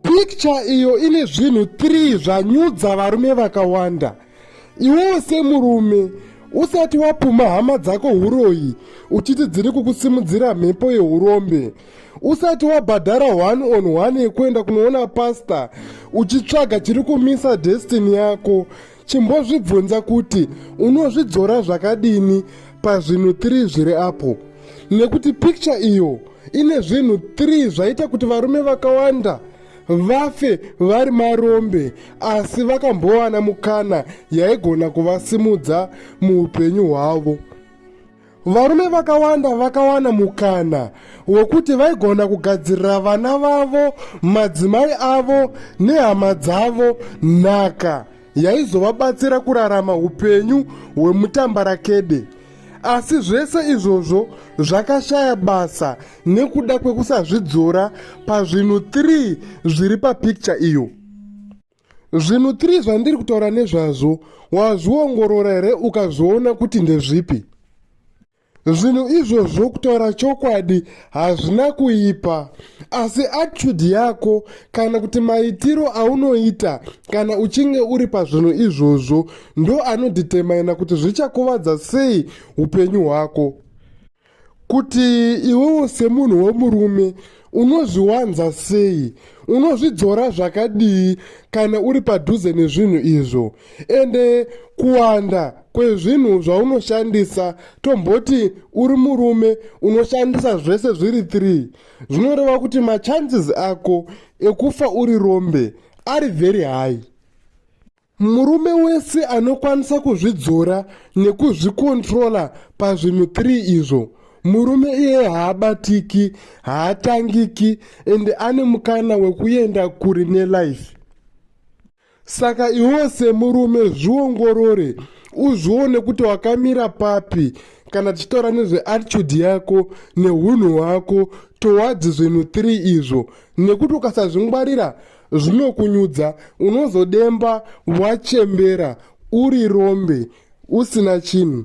Picture iyo ine zvinhu 3 zvanyudza varume vakawanda. Iwewe semurume usati wapuma hama dzako huroyi uchiti dziri kukusimudzira mhepo yeurombe usati wabhadhara one on one yekuenda kunoona pasta uchitsvaga chiri kumisa destiny yako Chimbozvibvunza kuti unozvidzora zvakadini pazvinhu 3 zviri apo. Nekuti picture iyo ine zvinhu 3 zvaita kuti varume vakawanda vafe vari marombe asi vakambowana mukana yaigona kuvasimudza muupenyu hwavo. Varume vakawanda vakawana mukana wekuti vaigona kugadzirira vana vavo, madzimai avo nehama dzavo nhaka yaizovabatsira kurarama upenyu hwemutambarakede. Asi zvese izvozvo zvakashaya basa nekuda kwekusazvidzora pazvinhu 3 zviri papikicha iyo. Zvinhu 3 zvandiri kutaura nezvazvo wazviongorora here ukazviona kuti ndezvipi? Zvinhu izvozvo kutaura chokwadi hazvina kuipa, asi attitude yako kana kuti maitiro aunoita kana uchinge uri pazvinhu izvozvo ndo anodhitemaina kuti zvichakuvadza sei upenyu hwako. kuti iwewo semunhu wemurume unozviwanza sei unozvidzora zvakadii kana uri padhuze nezvinhu izvo ende kuwanda kwezvinhu zvaunoshandisa tomboti uri murume unoshandisa zvese zviri 3 zvinoreva kuti machances ako ekufa uri rombe ari very high Murume wese anokwanisa kuzvidzora nekuzvikontrola pazvinhu 3 izvo. Murume iye haabatiki, haatangiki ende ane mukana wekuenda kuri nelife. Saka iwo semurume zviongorore uzvione kuti wakamira papi kana tichitaura nezveattitude yako neunhu hwako towards zvinhu 3 izvo nekuti ukasazvingwarira zvinokunyudza unozodemba wachembera uri rombe usina chinhu